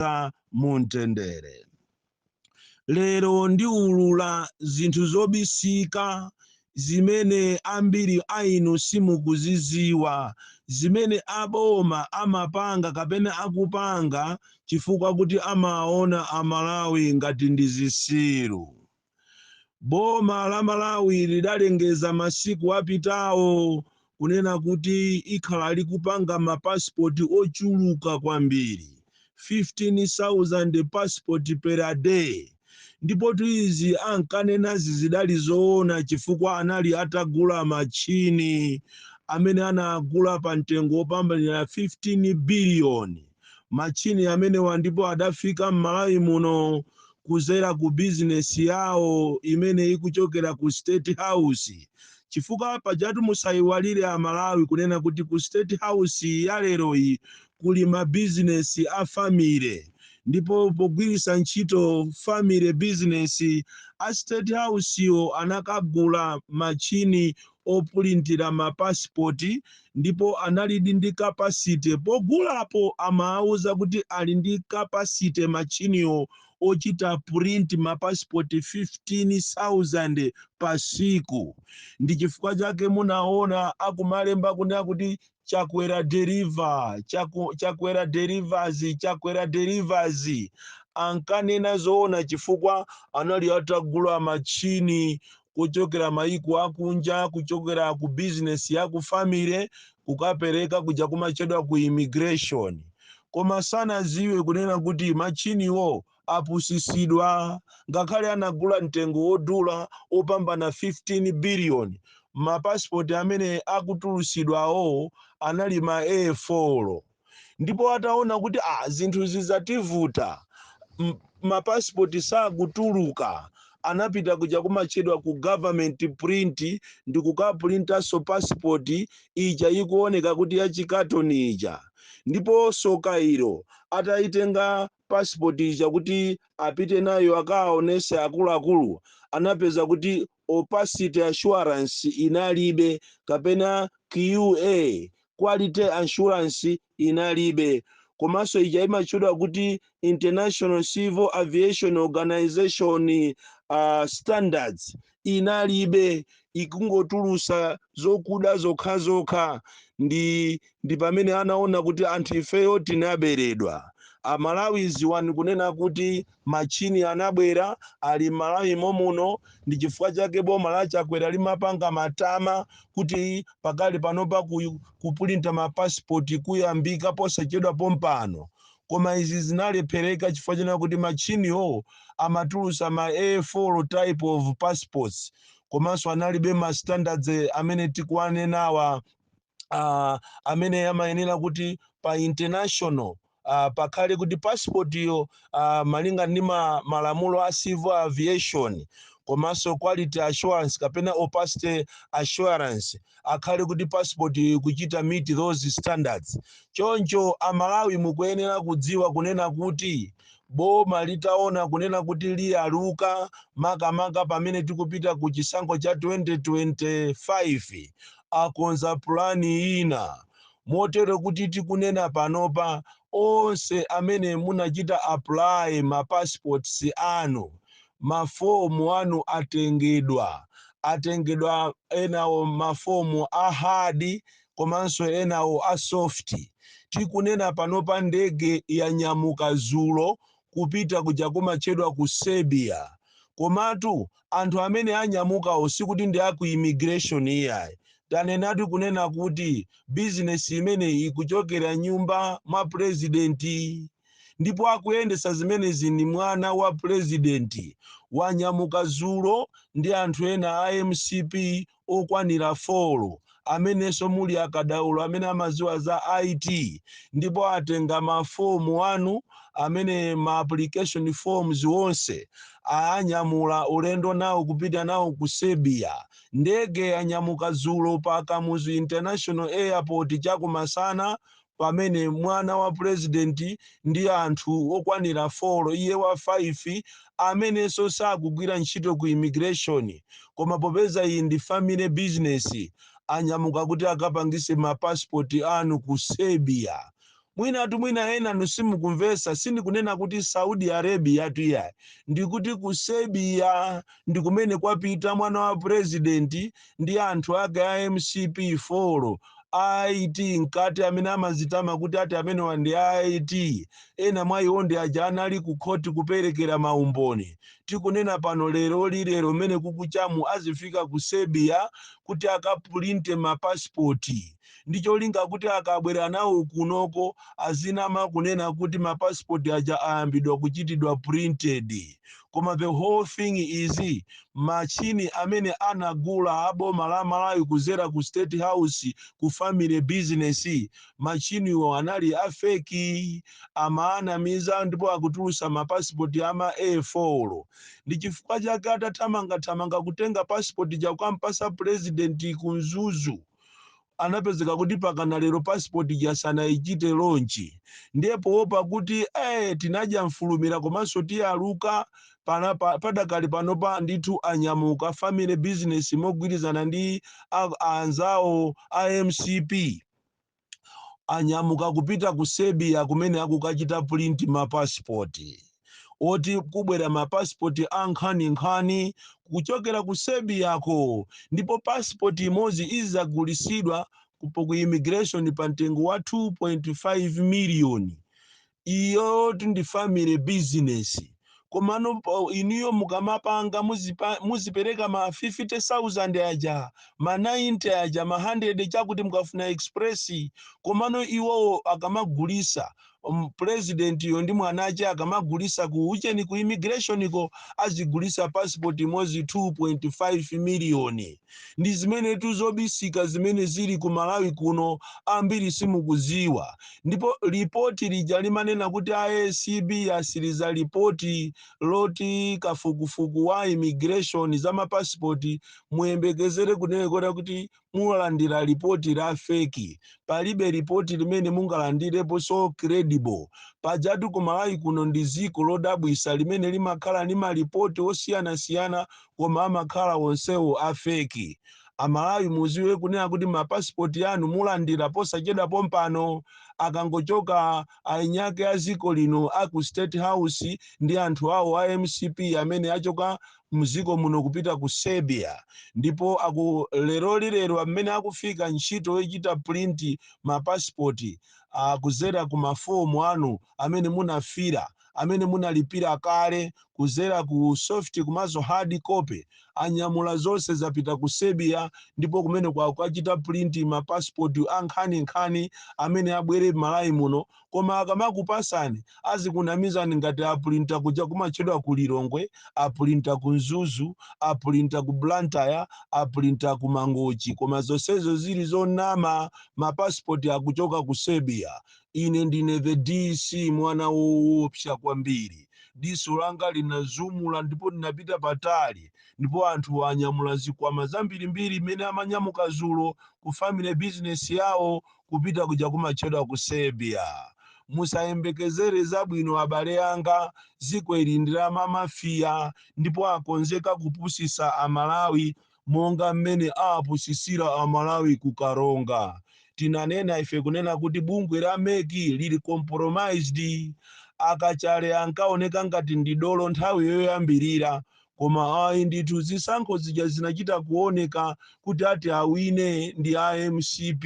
kukhazikika mu mtendere. Lero ndiulula zinthu zobisika zimene ambiri a inu simukuzidziwa zimene aboma amapanga kapena akupanga chifukwa kuti amaona Amalawi ngati ndi zitsiru. Boma la Malawi lidalengeza masiku apitawo kunena kuti ikhala likupanga mapasipoti ochuluka kwambiri, 15,000 pasipoti per a day. Ndipotu izi ankanenazi zidali zoona chifukwa anali atagula matchini amene anagula pa mtengo wopambanira 15 biliyoni. matchini amenewa ndipo adafika m'Malawi muno kuzera ku bizinesi yawo imene ikuchokera ku State House chifukwa pajatu musayiwalire Amalawi kunena kuti ku State House ya leroyi kuli mabizinesi a family ndipo pogwiritsa ntchito family business a State House wo anakagula matchini opulintira ma passport ndipo analidi ndi capacity pogulapo amaauza kuti ali ndi capacity machiniwo ochita print ma passport 15000 pa siku ndi chifukwa chake munaona akumalemba kunena kuti chakwera deliver chakwera delivers chakwera delivers ankanena zoona chifukwa anali atagula machini kuchokera maiko akunja kuchokera ku bizinesi ya ku family kukapereka kuja kumatchedwa ku immigration koma sanaziwe kunena kuti machiniwo apusisidwa ngakhale anagula mtengo wodula wopambana 15 billion ma passport amene akutulusidwawo anali ma A4 ndipo ataona kuti a, zinthu zizativuta ma passport sakutuluka anapita kuja kumatchedwa ku government print ndi kukapulintanso passport ija ikuoneka kuti yachikatoni ija ndipo soka ilo atayitenga passport ija kuti apite nayo akawaonese akuluakulu anapeza kuti opacity assurance inalibe kapena QA quality assurance inalibe komanso ija imatchedwa kuti international civil aviation organization uh, standards inalibe ikungotulusa zokuda zokha zokha ndi pamene anaona kuti anthu ifeyo tinaberedwa amalawi ziwani kunena kuti machini anabwera ali m'malawi momuno ndi chifukwa chake boma la chakwera limapanga matama kuti pakali panopa kupulinta mapasipoti kuyambika posachedwa pompano koma izi zinalephereka chifukwa chonena kuti machine wo amatulusa ma A4 type of passports komanso analibe ma standards amene tikuwanenawa, amene amayenera kuti pa international uh, pakhale kuti passport yo uh, malinga ndi ma, malamulo a civil aviation komanso quality assurance kapena opacity assurance akhale kuti passport yo ikuchita meet those standards. Choncho a Malawi mukuyenera kudziwa kunena kuti boma litaona kunena kuti liyaluka makamaka pamene tikupita ku chisankho cha 2025 akonza pulani ina motere kuti tikunena panopa onse amene munachita apply ma passports anu ma form anu atengedwa atengedwa enawo ma form a hard komanso enawo a soft tikunena panopa ndege yanyamuka dzulo kupita kuja komatchedwa ku Serbia. Komatu anthu amene anyamukawo sikuti ndi a ku immigration iyayi. Tanenatu kunena kuti bizinesi imeneyi ikuchokera mnyumba mwa pulezidenti. Ndipo akuyendetsa zimenezi ndi mwana wa pulezidenti. Wanyamuka dzulo ndi anthu ena a mcp okwanira folo amenenso muli akadaulo amene amadziwa za IT ndipo atenga mafomu anu amene ma application forms onse anyamula ulendo nawo kupita nawo ku Serbia. Ndege yanyamuka dzulo pa Kamuzu International Airport chakumasana pamene mwana wa pulezidenti ndi anthu okwanira 4, iye wa 5, amenenso sakugwira ntchito ku immigration koma popeza iyi ndi family business anyamuka kuti akapangise ma passport anu ku Serbia. Mwinatu mwina enanu simukumvetsa, sindikunena kuti Saudi Arabiatu iyayi, ndikuti ku Serbia ndi kumene kwapita mwana wa pulezidenti ndi anthu ake a mcp folo a IT mkati amene amazitama kuti ati amenewa ndi a IT ena mwa iwo ndi aja anali ku khoti kuperekera maumboni tikunena pano leroli lero mmene kukuchamu azifika ku Serbia kuti akapulinte mapasipoti ndi cholinga kuti akabwera nawo kunoko azinama kunena kuti mapasipoti aja ayambidwa kuchitidwa printed koma the whole thing is machine amene anagula aboma la malawi kuzera ku state house ku family business machiniwo anali afeki amaanamiza ndipo akutulusa mapasipoti ama a4 ndi chifukwa chake atathamangathamanga kutenga pasipoti cha kukampasa purezidenti ku mzuzu anapezeka kuti mpakana lero passport ija sanaichite launch ndiye poopa kuti eh, tinadya mfulumira komanso tiyaluka pana pa- padakali panopa ndithu anyamuka family business mogwirizana ndi a- anzawo a mcp anyamuka kupita ku serbia kumene akukachita print mapasipoti oti kubwera ma passport a nkhani nkhani kuchokera ku Serbia ko ndipo passport imodzi izagulisidwa po- ku immigration pa mtengo wa 2.5 million iyo ndi family business komano po- inuyo mukamapanga muzipa- muzipereka ma 50000 anu aja ma 90 aja ma 100 chakuti mukafuna express komano iwowo akamagulisa um, pulezidentiyo ndi mwana ache akamagulisa ku ucheni ku immigrationiko azigulisa passport imodzi 2.5 miliyoni ndi zimenetu zobisika zimene zili ku malawi kuno ambiri simukuziwa ndipo lipoti lija limanena kuti acb yatsiriza lipoti loti kafukufuku wa immigration za mapasipoti muyembekezere kunena kuti mulandira lipoti la feki palibe lipoti limene mungalandireponso credible pajatu ku malawi kuno ndi ziko lodabwisa limene limakhala ndi malipoti osiyanasiyana koma amakhala onsewo a feki amalawi muziwe kunena kuti mapasipoti anu mulandira posachedwa pompano akangochoka eniake a ziko lino aku state house ndi anthu awo a mcp amene achoka mdziko muno kupita ku Serbia ndipo aku leroli lero mmene akufika ntchito yochita print ma passport a kudzera ku ma form anu amene munafila amene munalipira kale kudzera ku soft komanso hard copy anyamula zonse zapita ku Serbia ndipo kumeneko akukachita print ma passport a nkhani nkhani amene abwere Malawi muno koma akamakupasani azikunamizani ngati apulinta kuja kumatchedwa ku lilongwe apulinta ku mzuzu apulinta ku blantyre apulinta ku mangochi koma zonsezo zili zonama mapasipoti akuchoka ku serbia ine ndine the dc mwana woopsa kwambiri diso langa linazumula ndipo ndinapita patali ndipo anthu anyamula zikwama zambirimbiri mmene amanyamuka zulo ku family business yawo kupita kuja kumatchedwa ku serbia musayembekezere zabwino abale anga dziko ili ndi la mamafiya ndipo akonzeka kupusisa amalawi monga mmene awapusisira amalawi ku karonga tinanena ife kunena kuti bungwe la meki lili compromised akachale ankaoneka ngati ndi dolo nthawi yoyambirira Koma ayi ndithu zisankho zija zinachita kuoneka kuti ati awine ndi a mcp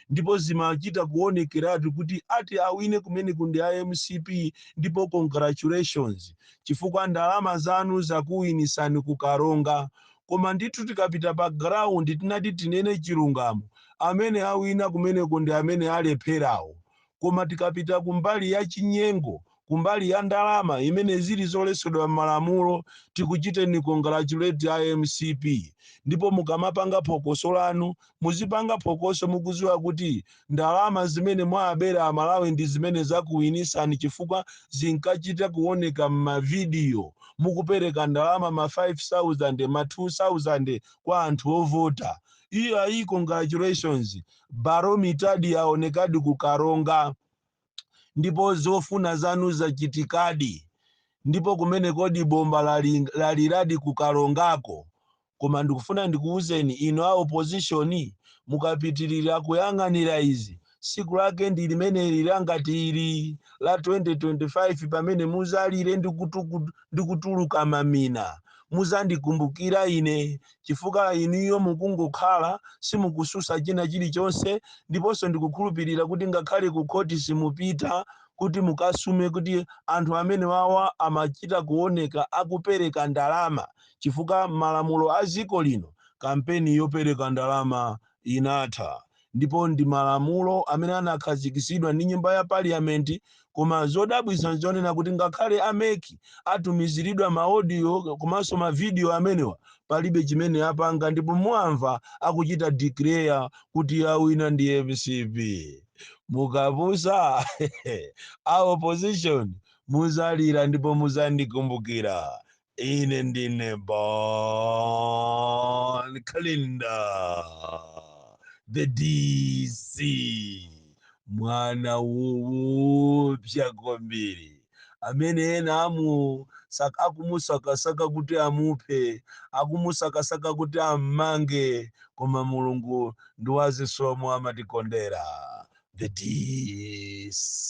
ndipo zimachita kuonekeratu kuti ati awine kumeneko ndi a mcp ndipo congratulations chifukwa ndalama zanu zakuwinisani ku karonga koma ndithu tikapita pa ground tinati tinene chilungamo amene awina kumeneko ndi amene alepherawo Koma tikapita ku mbali ya chinyengo, ku mbali ya ndalama imene zili zoletsedwa mmalamulo, tikuchiteni congratulate a mcp. Ndipo mukamapanga phokoso lanu, muzipanga phokoso mukuziwa kuti ndalama zimene mwaabera a Malawi ndi zimene zakuwinisani chifukwa zinkachita kuwoneka mma video mukupereka ndalama ma 5000, ma 2000 kwa anthu ovota. Iyayi congratulations. Baromitadi yaonekadi ku Karonga ndipo zofuna zanu zachitikadi ndipo kumene kodi bomba lali- laliradi ku Karongako koma ndikufuna ndikuwuzeni inu a opposition mukapitirira kuyang'anira izi tsiku lake ndi limene lija ngati ili la 2025 pamene muzalire ndi kutuku- ndi kutuluka mamina muzandikumbukira ine chifukwa inuyo mukungokhala simukususa china chilichonse ndiponso ndikukhulupirira kuti ngakhale ku khoti simupita kuti mukasume kuti anthu amene wawa amachita kuoneka akupereka ndalama chifukwa malamulo a dziko lino kampeni yopereka ndalama inatha ndipo ndi malamulo amene anakhazikitsidwa ndi nyumba ya parliament koma zodabwitsa nzonena kuti ngakhale a mec atumiziridwa maaudio komanso mavidiyo amenewa palibe chimene apanga ndipo muamva akuchita declare kuti awina ndi mcp mukapusa a opposition muzalira ndipo muzandikumbukira Ine ndine Bon Kalindo, the DC, mwana woopsa kwambiri amene ena amu sak- akumusakasaka kuti amuphe, akumusakasaka kuti ammange, koma Mulungu ndi wazisomo amatikondera. The DC.